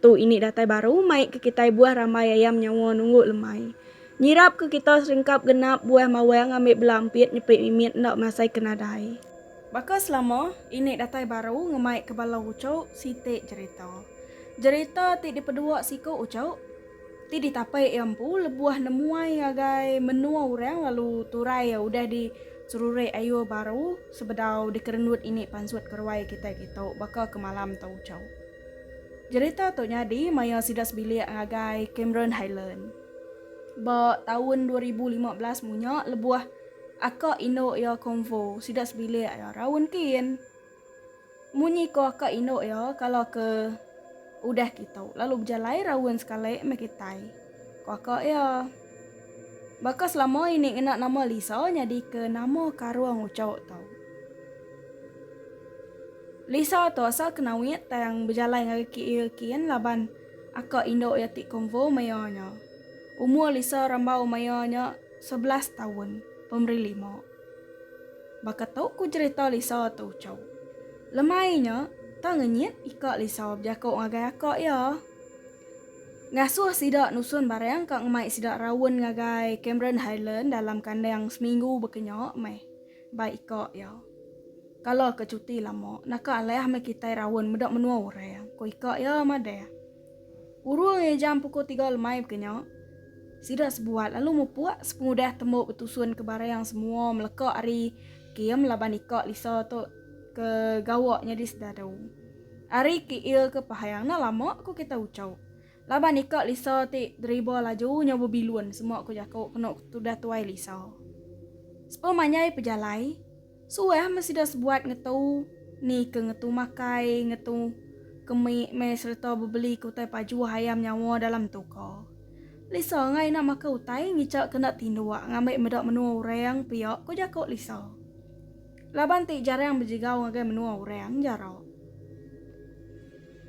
Tu ini datai baru mai ke kitai buah rambai ayam nyawa nunggu lemai. Nyirap ke kita seringkap genap buah mawang ambi bela ampit nyepi mimit enda masai ke nadai. Baka selama, ini datai baru ngemai ke bala uchu siti jerita. Jerita ti dipedua siku uchu, ti ditapai iya empu lebuh nemuai ngagai menua orang lalu turai iya udah di serurik ayuh baru sebedau dikerendut ini pansut ke ruai kitai kitu baka ke malam tu uchu. Jerita tu nyadi maya sida sebilik ngagai Cameron Highland. Ba taun dua ribu lima belas munya lebuh aka indu iya Convo sida sebilik iya raun kin. Munyi ko aka indu iya kala ke udah kitu lalu bejalai raun sekali meh kitai, ko aka iya. Baka selama ini ngena nama Lisa nyadika nama karung uchauk tau. Lisa tu asal Kenawit tang bejalai ngagai KL kin laban aka indu iya ti Konvo maya nya. Umur Lisa rambau maya nya sebelas taun, pemeri lima. Baka tu ku cherita Lisa tu uchauk. Lemai nya, tang ngenyit ika Lisa bejaku ngagai aka iya. Ngasuh sida nusun barang ka ngemai sida raun ngagai Cameron Highland dalam kandang seminggu baka nya meh. Bai ika iya. Kala ke cuti lama, naka alih meh kitai raun meda menua orang, ku ika iya madah. Urung ngai jam pukul tiga lemai baka nya, sida sebuat lalu mupuk sepengudah tembu betusunka barang semua meleka ari kem laban ika Lisa tu ke gawa nyadi sedadu. Ari ke il ke pahang na lama ko kita ucau. Laban ika Lisa ti deriba laju nyau bebilun semua ko jako keno tudah tuai Lisa. Sepa manjai pejalai, suah meh sida sebuat ngetu ni ke ngetu makai, ngetu kemi meh sereta bebeli ke utai pajuh ayam nyawa dalam tuka. Lisa engai ina makai utai ngica ke enda tinduk ngambi meda menua orang pia ko jako Lisa. Laban ti jarang bejigau ngagai menua orang jaro.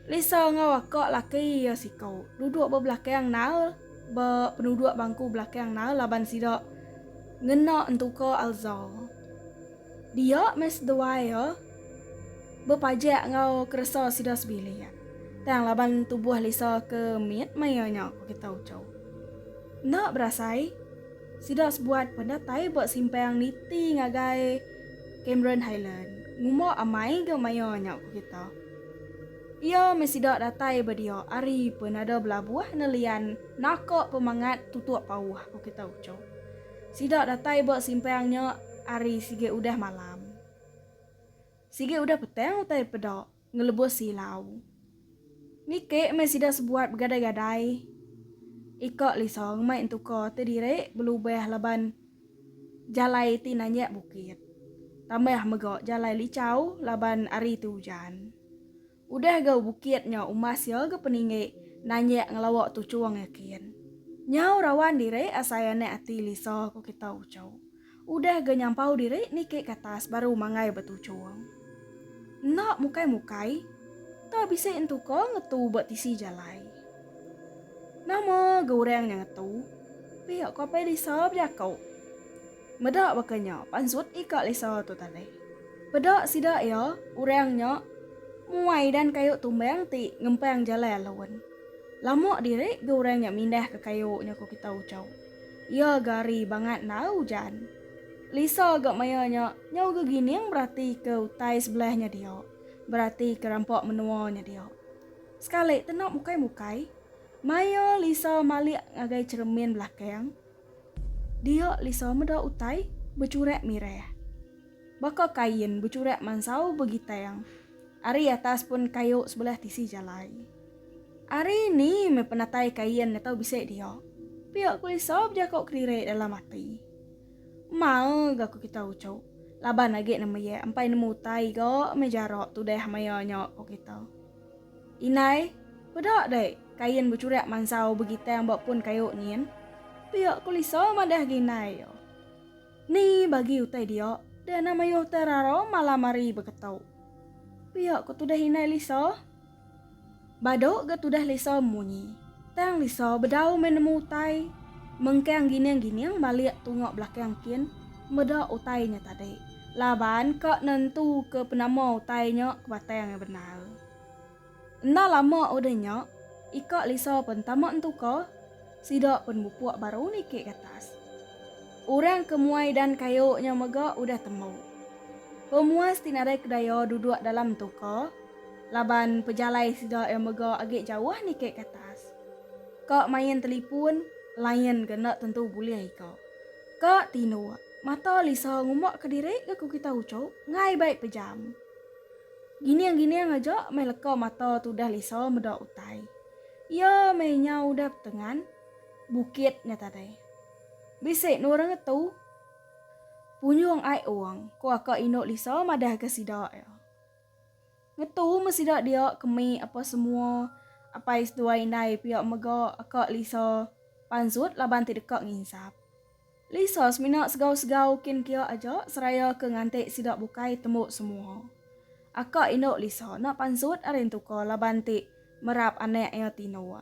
Lisa enggau aka laki iya siku duduk ba belakang Nail ba penuduk bangku belakang Nail laban sida ngena entuka Alza. Dia meh seduai iya bepajak enggau keresa sida sebilik. Tang laban tubuh Lisa ke mit maya nya, ku kita uchu. Enda berasai. Sida sebuat penatai ba simpang niti ngagai Cameron Highland. Nguma amai ga maya nya ku kita. Iya meh sida datai ba dia ari penada belabuh nelian naka pemangat tutup pauh ku kita uchup. Sida datai ba simpang nya ari sigi udah malam. Sigi udah petang utai peda. Ngelebus silau. Niki meh sida sebuat begadai-gadai. Iko lisong meh entuko ti diri belubah laban jalai ti nanyak bukit. Tambah mego jalai licau laban ari ti ujan. Udah gau bukit nyau umas iya ga peninggi nanyak ngelawa tuchung yakin. Nyau rawan diri asai anak ati Lisa ko kita uchu. Udah ga nyampau diri niki ke atas baru mangai ba tuchung. Enda mukai-mukai, tau bisi entu ko ngetu ba tisi jalai. Nama ga orang nya ngetu, pia ko apai Lisa bejako. Meda baka nya pansut ika Lisa tu tadi. Peda sida iya, orang nya muai dan kayu tumbang ti ngempang jalai alun. Lama diri ga orang nya mindah ke kayu nya ko kita uchu. Iya gari bangat ndau Jan. Lisa ga maya nya nyau gegining beratika utai sebelah nya dia, beratika rampa menua nya dia. Sekali tena mukai-mukai, maya Lisa malik ngagai cheremin belakang, dia Lisa meda utai bechurak mirah. Baka kain bechurak mansau begitang ari atas pun kayu sebelah tisi jalai. Ari ni meh penatai Kain ngetau bisi dia? Pia ku Esau bejako kelirik dalam ati. Mal ga ku kita uchu, laban agi nama iya empai nemu utai ga meh jarak tudah maya nya ku kita. Indai, peda deh Kain bechurak mansau begitang ba pun kayu nyin? Pia ku Lisa madah agi indai iya. Ni bagi utai dia, deh enda mayuh terara malam hari beketu. Pia ku tudah indai Lisa. Bado ga tudah Lisa munyi. Tang Lisa bedau meh nemu utai. Mengkang gining-gining balik tunga belakang kin meda utai nya tadi laban ka nentu ke penama utai nya ke batang iya bendar. Enda lama udah nya ika Lisa pen tama entuka sida pen bupuk baru niki gatas. Orang ke muai dan kayu nya mega udah tembu. Pemuas ti nadai kedaya duduk dalam entuka. Laban pejalai sida iya mega agi jauh niki ke atas. Ka main telipun lain ga enda tentu bulih ika. Ka tinduk mata lisa ngumuk ke diri ga ku kita uchup ngai bai pejam. Gining-gining aja meh leka mata tu udah lisa meda utai. Iya meh nya udah petengan bukit nya tadi. Bisi nurung ngetu punjung ai ong, ku aka indu lisa madah ga sida iya. Ngetu meh sida dia ke me apa semua apai seduai indai pia mega aka Lisa pansut laban ti deka nginsap. Lisa semina segau-segau kin kia aja seraya ke nganti sida bukai tembu semua. Aka indu Lisa enda pansut ari entuka laban ti merap anak iya tinduk.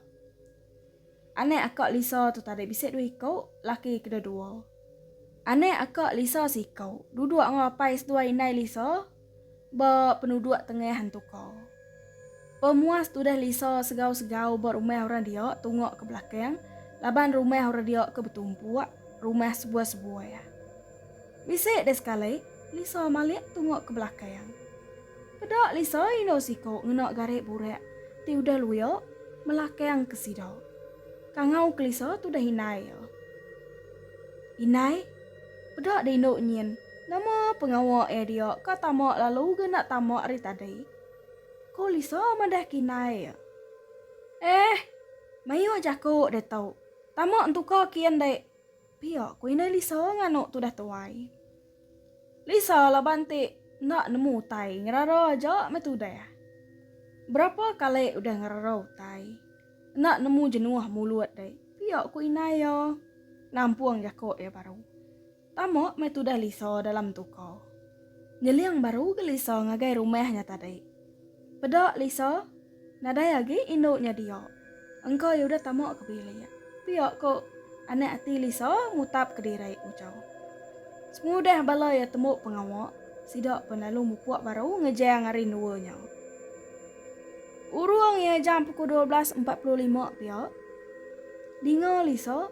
Anak aka Lisa tu tadi bisi dua iku, laki kedua-dua. Anak aka Lisa seiku duduk enggau apai seduai indai Lisa. ba penuduk tengah Hantuka. Pemuas tudah Lisa segau-segau ba rumah orang dia tungok ke belakang laban rumah orang dia ke betumpuk rumah sebuah-sebuah. Bisi deh sekali Lisa malik tungok ke belakang. Peda Lisa indu siku ngena garik burak ti udah luya melakang ke sida. Kangau ke Lisa tudah indai iya. Indai, peda deh indu nyin. Nama pengawa iya dia ka tama lalu ga enda tama ari tadi? ku Lisa madah kinai iya. Eh, mayuh jaku ditu. Tama entuka kin dek, pia ku indai Lisa nganu tudah tuai. Lisa laban ti enda nemu utai ngerara aja meh tudah. Berapa kali udah ngerara utai, enda nemu jenuh mulut dek, pia ku indai iya nampung jaku iya baru. Tama meh tudah Lisa dalam tuka. Nyeling baru ga Lisa ngagai rumah nya tadi. Peda Lisa, nadai agi indu nya dia. Engka iya udah tama ke bilik. Pia ko anak ati Lisa mutap ke diri ujar. Semudah bala iya tembu pengawa, sida pen lalu mupuk baru ngejang ari endua nya. Urung iya jam puku dua belas empat puluh lima pia, dinga Lisa.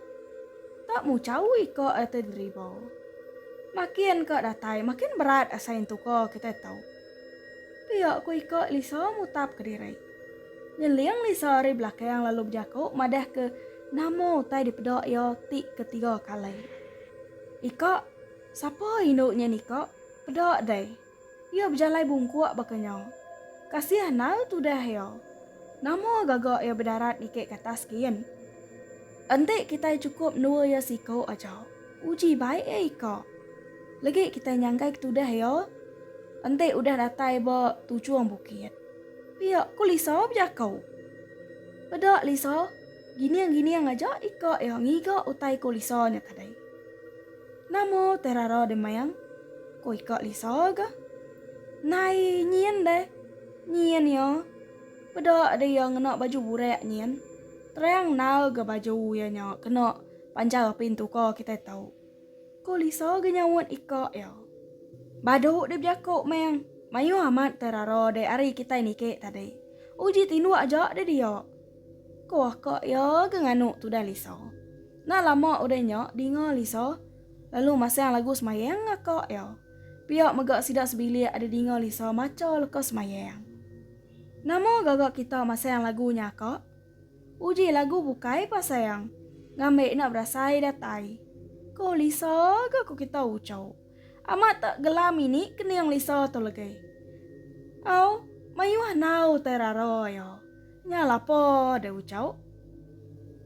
Ka mu cawi ka reta deriba. Makin ka datai makin berat asai entu ka kitai tau. Pia ku ika Lisa mutap kediri. Nyeling Lisa ari belakang lalu bejaku madah ke nama utai dipeda iya ti ketiga kali. Ika, sapa indu nya nika? Peda deh. Iya bejalai bungkuk baka nya. Kasih anal tudah iya. Nama gaga iya bedarat niki ke atas gin. Enti kitai chukup mendua iya siku aja, uji baik iya ika. Legi kitai nyangkai ke tudah iya, enti udah datai ba tujung bukit, pia ku Lisa bejaku. Peda Lisa, gining-gining aja ika iya ngiga utai ku Lisa nya tadi. Nama utai rara deh mayang? Ko ika Lisa ga. Nai nyin deh. Nyin iya. Peda deh iya ngena baju burak nyin. Terang nal ga baju iya nya kena panjau api entuka kitai tau. Ko Lisa ga nyaut ika iya. Badu deh bejaku mayang. Mayuh amat utai rara deh ari kitai niki tadi. Uji tinduk aja deh dia. Ko aka iya ga nganu tudah Lisa. Enda lama udah nya dinga Lisa lalu masang lagu semayang ngaka iya. Pia mega sida sebilik ada dinga Lisa macha leka semayang. Nama gaga kita masang lagu nya ka? Uji lagu bukai pa sayang, ngambi enda berasai datai. Ko Lisa ga ko kita ucau. Amat tak gelam ini kening Lisa tu legi. Au, mayuh enau tai rara iya. Nya lapa deh ucau.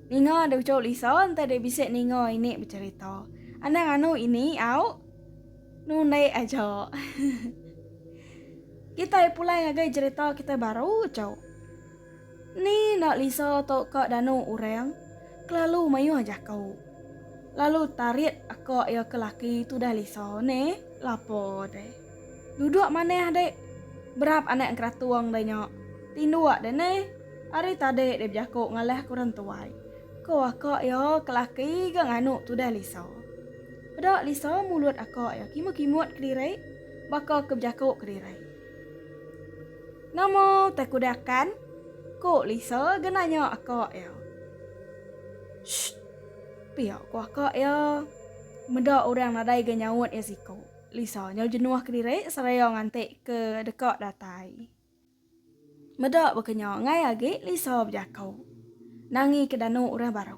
Ninga deh ucau Lisa enti deh bisi ninga ini becerita. Anang anu ini, au. Nundek aja. Kitai pulai ngagai cerita kitai baru, ucau. Ni enda lisa tu ka danu orang kelalu mayuh jaku. Lalu tarit aka iya ke laki tudah lisa neh lapa deh. Duduk manah dek. Berap anak engkeratung deh nya. Tinduk deh neh. Ari tadi deh bejaku ngalah ke orang tuai. Ko aka iya ke laki ga nganu tudah lisa. Peda lisa mulut aka iya kimut-kimut kediri baka ke bejaku kediri. Nama utai ku dakan? ku Lisa ga nanya aka iya. Shh. Pia ku aka iya. Meda orang nadai ga nyaut iya siku. Lisa nyau jenuh kediri seraya nganti ke deka datai. Meda baka nya angai agi Lisa bejaku. Nangi ke danu orang baru.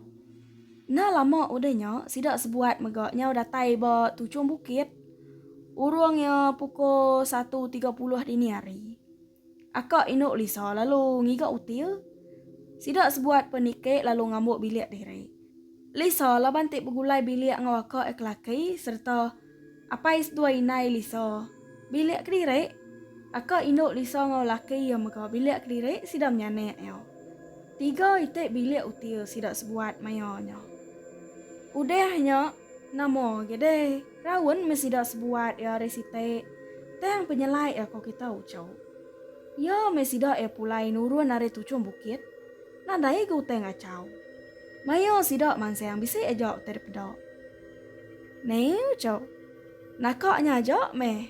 Enda lama udah nya sida sebuat mega nyau datai ba tuchung bukit. Urung iya pukul satu tiga puluh dini hari. Akak indu Lisa lalu ngiga util. Sida sebuat pe nikik lalu ngambuk bilik diri. Lisa laban ti begulai bilik enggau akak iya ke laki sereta apai seduai indai Lisa bilik kediri. Akak indu Lisa enggau laki iya mega bilik kediri sida menyanak iya. Tiga iti bilik util sida sebuat maya nya. Udah nya. Nama agi deh, raun meh sida sebuat iya ari siti. Tang penyelai iya ko kita ucau. Iya meh sida iya pulai nurun ari tuchung bukit. Nadai ga utai ngacau. Maya sida mansang bisi aja utai dipeda. Neh ucau. Naka nya aja meh.